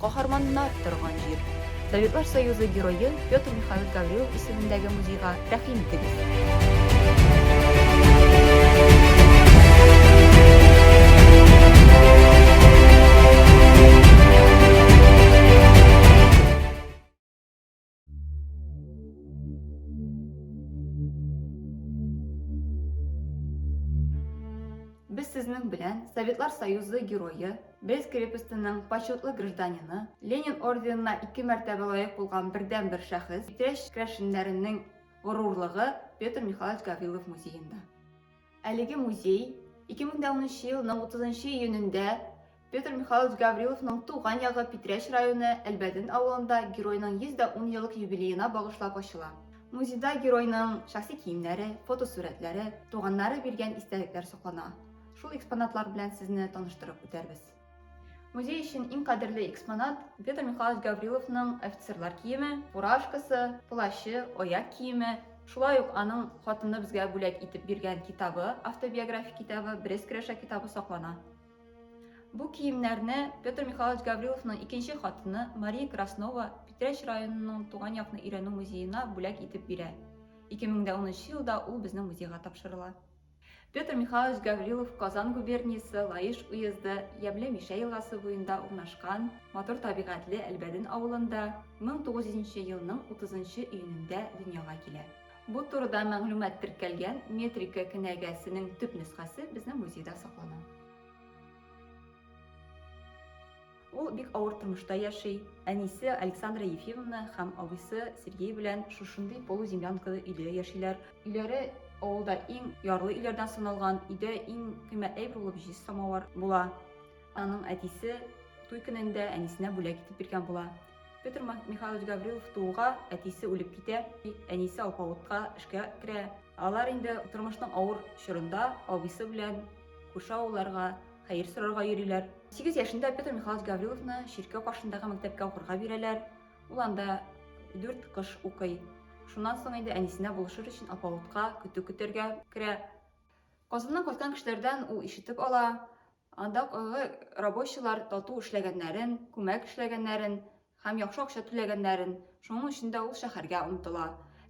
Каһарманнар торган җир. Советлар Союзы Герое Петр Михайлович Гаврилов исемендәге музейга рәхим итегез. Без сезнең белән Советлар Союзы герое, Брест крепостенең почетлы гражданины, Ленин орденына ике мәртәбә лаек булган бердәнбер шәхес, Питрәч крәшеннәренең горурлыгы Петр Михайлович Гаврилов музеенда. Әлеге музей 2010 елның 30 июнендә Петр Михайлович Гавриловның туган ягы Питрәч районы Әлбәден авылында геройның 110 еллык юбилеена багышлап ачыла. Музейда геройның шәхси киемнәре, фотосурәтләре, туганнары биргән истәлекләр саклана. Шул экспонатлар белән сезне таныштырып үтәрбез. Музей өчен иң кадерле экспонат Петр Михайлович Гавриловның офицерлар киеме, фуражкасы, плащы, аяк киеме, шулай ук аның хатыны безгә бүләк итеп биргән китабы, автобиографик китабы, Брест көрәшә китабы саклана. Бу киемнәрне Петр Михайлович Гавриловның икенче хатыны Мария Краснова Питрәч районының туган якны өйрәнү музеена бүләк итеп бирә. 2013 елда ул безнең музейга тапшырыла. Петр Михайлович Гаврилов Казан губерниясе Лаеш уезды Ямле Мишә елгасы буенда урнашкан матур табигатьле Әлбәден авылында 1900 нче елның 30 нчы июнендә дөньяга килә. Бу турыда мәгълүмат теркәлгән метрика кенәгәсенең төп нөсхәсе безнең музейда саклана. Ул бик авыр тормышта яши, әнисе Александра Ефимовна һәм абыйсы Сергей белән шушындый полуземлянкалы өйдә яшиләр. Өйләре авылда иң ярлы өйләрдән саналган, өйдә иң кыйммәтле әйбер булып җиз самавар була. Аның әтисе туй көнендә әнисенә бүләк итеп биргән була. Петр Михайлович Гаврилов тууга, әтисе үлеп китә, әнисе алпавытка эшкә керә. Алар инде тормышның авыр чорында абыйсы белән күрше авылларга, хәер сорарга йөриләр. Сигез яшендә Петр Михайлович Гавриловны чиркәү каршындагы мәктәпкә укырга бирәләр. Ул анда дүрт кыш укый. Шуннан соң инде әнисенә булышыр өчен алпавытка, көтү көтәргә керә. Казаннан кайткан кешеләрдән ул ишетеп ала, андагы рабочийлар тату эшләгәннәрен, күмәк эшләгәннәрен, һәм яхшы акча түләгәннәрен, шуның өчен дә ул шәһәргә омтыла.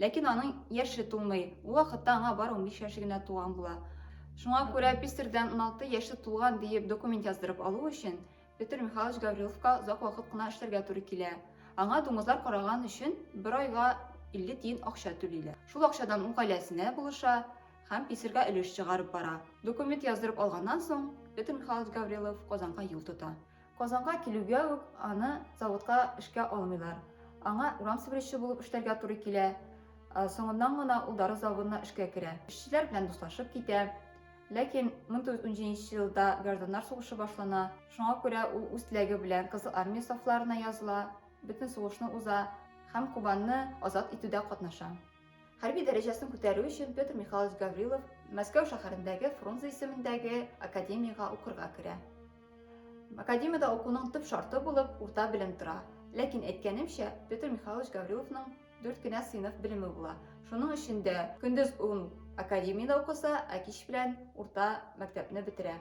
Ләкин аның яше тулмый, ул вакытта аңа бары унбиш яше генә туган була. Шуңа күрә писарьдан уналты яше тулган диеп документ яздырып алу өчен Петр Михайлович Гавриловка озак вакыт кына эшләргә туры килә. Аңа дуңгызлар караган өчен бер айга илле тиен акча түлиләр. Шул акчадан ул гаиләсенә булыша һәм писарьга өлеш чыгарып бара. Документ яздырып алганнан соң, Петр Михайлович Гаврилов Казанга юл тота. Казанга килүгә үк аны заводка эшкә алмыйлар. Аңа урам себерүче булып эшләргә туры килә. Соңыннан гына ул дары заводына эшкә керә. Эшчеләр белән дуслашып китә. Ләкин 1917 елда гражданнар сугышы башлана. Шуңа күрә ул үз теләге белән Кызыл Армия сафларына языла, бөтен сугышны уза һәм Кубанны азат итүдә катнаша. Хәрби дәрәҗәсен күтәрү өчен Петр Михайлович Гаврилов Мәскәү шәһәрендәге Фрунзе исемендәге академиягә укырга керә. Академиядә укуның төп шарты булып урта белем тора. Ләкин әйткәнемчә, Петр Михайлович Гавриловның дүрт кенә сыйныф белеме була. Шуның өчен дә көндез ул академиядә укыса, ә кич белән урта мәктәпне бетерә.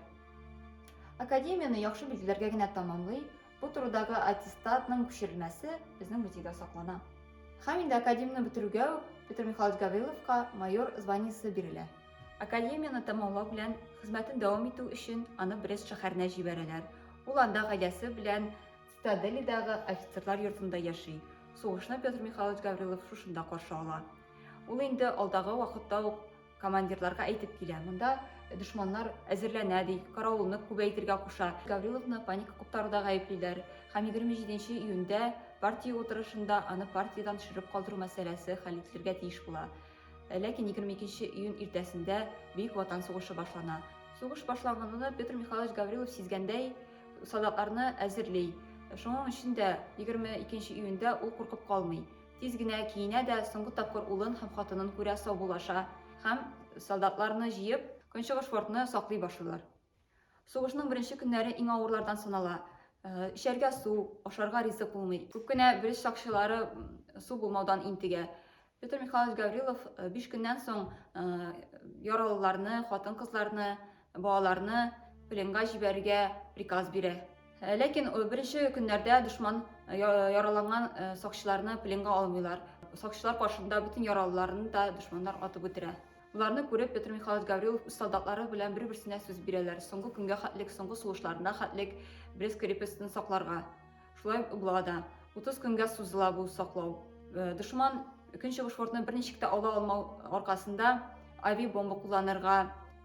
Академияне яхшы билгеләргә генә тәмамлый, Бу турыдагы аттестатның күчерелмәсе безнең музейда саклана. Һәм инде академияне бетерүгә үк Петр Михайлович Гавриловка майор званиесе бирелә. Академияне тәмамлау белән хезмәтен дәвам итү өчен аны Брест шәһәренә җибәрәләр. Ул анда гаиләсе белән Цитаделидагы офицерлар йортында яши. Сугышны Петр Михайлович Гаврилов шушында каршы ала. Ул инде алдагы вакытта ук Командирларга әйтеп килә, монда дошманнар әзерләнә, ди, каравылны күбәйтергә куша. Гавриловны паника куптаруда гаеплиләр һәм 27 нче июньдә партия утырышында аны партиядән төшереп калдыру мәсьәләсе хәл ителергә тиеш була. Ләкин 22 нче июнь иртәсендә Бөек Ватан сугышы башлана. Сугыш башланганны Петр Михайлович Гаврилов сизгәндәй, солдатларны әзерли. Шуның өчен дә 22 нче июньдә ул куркып калмый. Тиз генә киенә дә соңгы тапкыр улын һәм хатынын күрә саубуллаша һәм, солдатларны җыеп, Көнчыгыш фортны саклый башлыйлар. Сугышның беренче көннәре иң авырлардан санала. Эчәргә су, ашарга ризык булмый. Күп кенә белез сакчылары су булмаудан интегә. Петр Михайлович Гаврилов биш көннән соң яралыларны, хатын-кызларны Балаларны пленга җибәрергә приказ бирә. Э, ләкин э, беренче көннәрдә дошман э, яраланган сакчыларны пленга алмыйлар. Сакчылар каршында бөтен яралыларны да дошманнар атып үтерә. Боларны күреп, Петр Михайлович Гаврилов үз солдатлары белән бер-берсенә сүз бирәләр. Соңгы көнгә хәтлек, соңгы сугышларына хәтлек Брест крепостен сакларга. Шулай ук була да. 30 көнгә сузыла бу саклау. Э, дошман Көнчыгыш фортны берничек тә ала алмау аркасында авиабомба кулланырга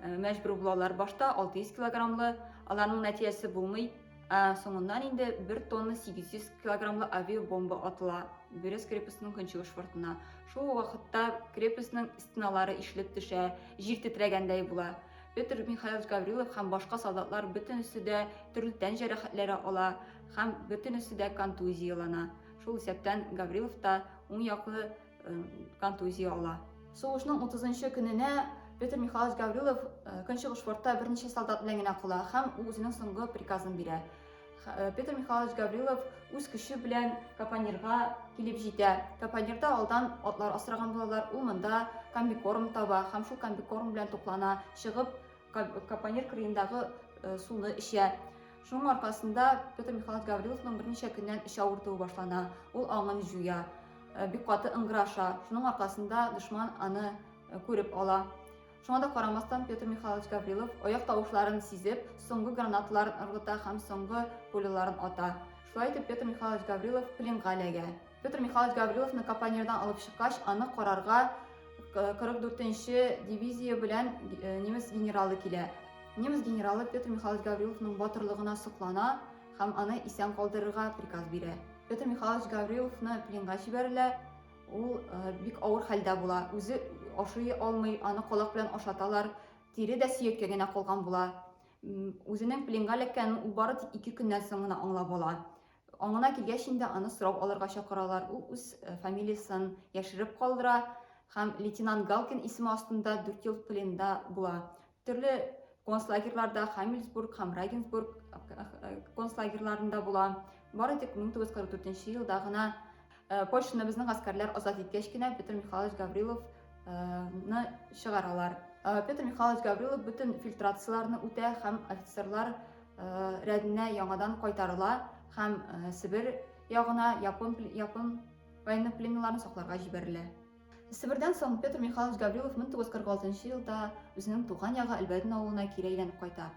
э, мәҗбүр булалар. Башта 600 килограммлы, аларның нәтиҗәсе булмый. Ә соңыннан инде 1 тонна 800 килограммлы авиабомба атыла Бөрес крепостының көнчыгыш фортына. Шул вакытта крепостның стеналары ишелеп төшә, җир тетрәгәндәй була. Петр Михайлович Гаврилов һәм башка солдатлар бөтенесе дә төрле тән җәрәхәтләре ала һәм бөтенесе дә контузиялана. Шул исәптән Гаврилов та уң яклы контузия ала. Сугышның 30-нчы көненә Петр Михайлович Гаврилов Көнчыгыш фортта берничә солдат белән генә кала һәм ул үзенең соңгы приказын бирә. Э, Петр Михайлович Гаврилов үз көче белән Капанирга килеп җитә. Капанирда алдан атлар асраган булалар. Ул монда комбикорм таба һәм шул комбикорм белән туклана, чыгып Капанир кырыендагы э, суны эчә. Шуның аркасында Петр Михайлович Гавриловның берничә көннән эч авыртуы башлана. Ул аңын җуя, э, бик каты ыңгыраша. Шуның аркасында дошман аны күреп ала. Шуңа да карамастан, Петр Михайлович Гаврилов, аяк тавышларын сизеп, соңгы гранаталарын ыргыта һәм соңгы пуляларын ата. Шулай итеп, Петр Михайлович Гаврилов пленга эләгә. Петр Михайлович Гавриловны Капонирдан алып чыккач, аны карарга 44-нче дивизия белән э, немец генералы килә. Немец генералы Петр Михайлович Гавриловның батырлыгына соклана һәм аны исән калдырырга приказ бирә. Петр Михайлович Гавриловны пленга җибәрелә, Ул бик авыр хәлдә була, үзе ашый алмый, аны колак белән ашаталар, тире дә сөякле генә калган була. Үзенең пленга эләккәнен ул бары тик ике көннән соң гына аңлап ала. Аңына килгәч инде аны сорау алырга чакыралар. Ул үз фамилиясын яшереп калдыра һәм лейтенант Галкин исеме астында 4 ел пленда була. Төрле концлагерьларда Хамельсбург һәм Рагенсбург концлагерьларында була. Бары тик 1944 елда гына Польшаны безнең гаскәрләр азат иткәч кенә Петр Михайлович Гаврилов ны чыгаралар. Петр Михайлович Гаврилов бөтен фильтрацияләрне үтә һәм офицерлар рәденә яңадан кайтарыла һәм Себер ягына япон япон военнопленныйларын сакларга җибәрелә. Себердән соң Петр Михайлович Гаврилов 1946 елда үзенең туган ягы Әлбәдин авылына кире әйләнеп кайта.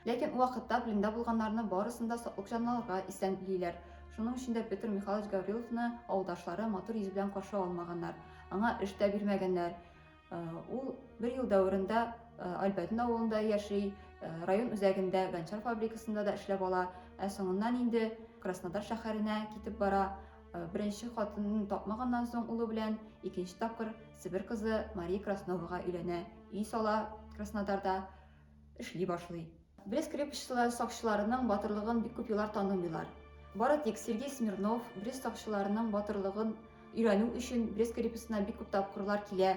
Ләкин ул вакытта пленда булганнарны барысын да саклык җанлыларга исән билиләр. Шуның өчен дә Петр Михайлович Гавриловны авылдашлары матур йөз белән каршы алмаганнар, аңа эш тә бирмәгәннәр. Э, ул бер ел дәверендә э, Альбәдин авылында яши, э, район үзәгендә Гончар фабрикасында да эшләп ала, ә соңыннан инде Краснодар шәһәренә китеп бара. Э, беренче хатынын тапмаганнан соң улы белән икенче тапкыр Себер кызы Мария Красновага өйләнә, өй сала Краснодарда, эшли башлый. Брест крепостьчылар сакчыларының батырлыгын бик күп еллар танымыйлар. Бары тик Сергей Смирнов Брест сакчыларының батырлыгын өйрәнү өчен Брест крепостена бик күп тапкырлар килә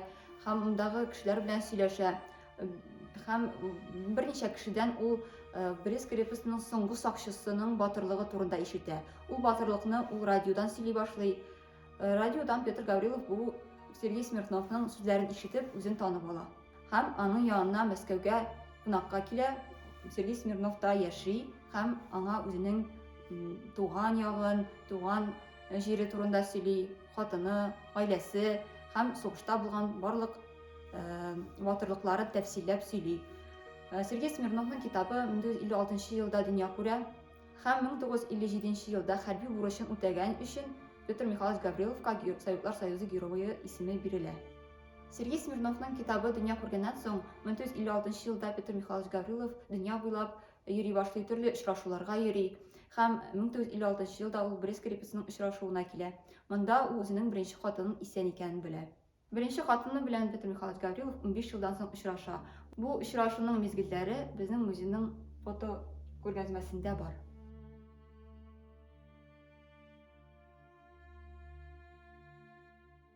һәм мондагы кешеләр белән сөйләшә. Һәм берничә кешедән ул э, Брис крепостьның соңгы сакчысының батырлыгы турында ишетә. Ул батырлыкны ул радиодан сөйли башлый. Э, радиодан Петр Гаврилов бу Сергей Смирновның сүзләрен ишетеп, үзен танып ала. Һәм аның янына Мәскәүгә кунакка килә. Сергей Смирнов та яши һәм аңа үзенең туган ягын, туган җире турында сөйли. хатыны, гаиләсе һәм сугышта булган барлык батырлыклары э, тәфсилләп сөйли. Э, Сергей Смирновның китабы 1956 елда дөнья күрә һәм 1957 елда хәрби бурычын үтәгән өчен Петр Михайлович Гавриловка Советлар Союзы герое исеме бирелә. Сергей Смирновның китабы дөнья күргәннән соң 1956 елда Петр Михайлович Гаврилов дөнья буйлап йөри башлый, төрле очрашуларга йөри һәм 1956 елда ул Брест крепостенең очрашуына килә. Монда ул үзенең беренче хатынын исән икәнен белә. Беренче хатыны белән Петр Михайлович Гаврилов унбиш елдан соң очраша. Бу очрашуның мизгелләре безнең музейның фотокүргәзмәсендә бар.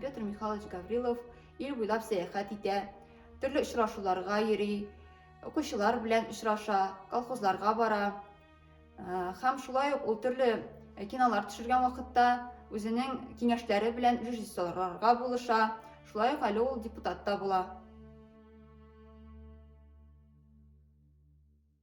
Петр Михайлович Гаврилов ил буйлап сәяхәт итә, төрле очрашуларга йөри, укучылар белән очраша, колхозларга бара. Һәм шулай ук ул төрле кинолар төшергән вакытта үзенең киңәшләре белән режиссерларга булыша, шулай ук әле ул депутат та була.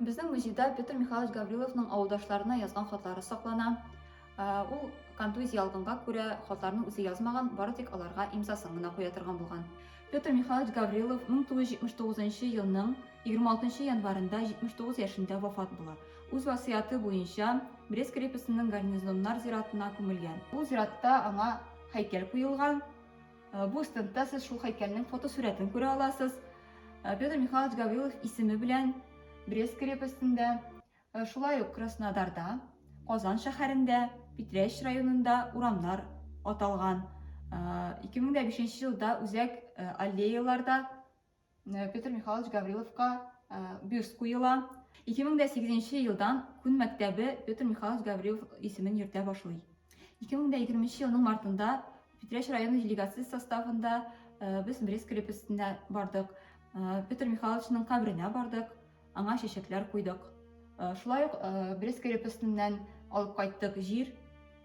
Безнең музейда Петр Михайлович Гавриловның авылдашларына язган хатлары саклана. Ул контузия ялгынга күрә хатларны үзе язмаган, бары тик аларга имзасын гына куя торган булган. Петр Михайлович Гаврилов 1979 елның 26 январында 79 яшендә вафат була. Үз васыяты буенча Брест крепостенең гарнизоннар зиратына күмелгән. Ул зиратта аңа һәйкәл куелган. Э, бу стендта сез шул һәйкәлнең фотосурәтен күрә аласыз. Э, Петр Михайлович Гаврилов исеме белән Брест крепостендә, э, шулай ук Краснодарда, Казан шәһәрендә, Питрәч районында урамнар аталган. 2005 елда үзәк аллеяларда Э, Петр Михайлович Гавриловка э, бюст куела. 2008 елдан күн мәктәбе Петр Михайлович Гаврилов исемен йөртә башлый. 2020 елның мартында Питрәш районы делегациясе составында э, без Брест крепостенә бардык. Петр Михайловичның кабренә бардык, аңа чәчәкләр куйдык. Шулай ук Брест крепостеннән алып кайттык җир,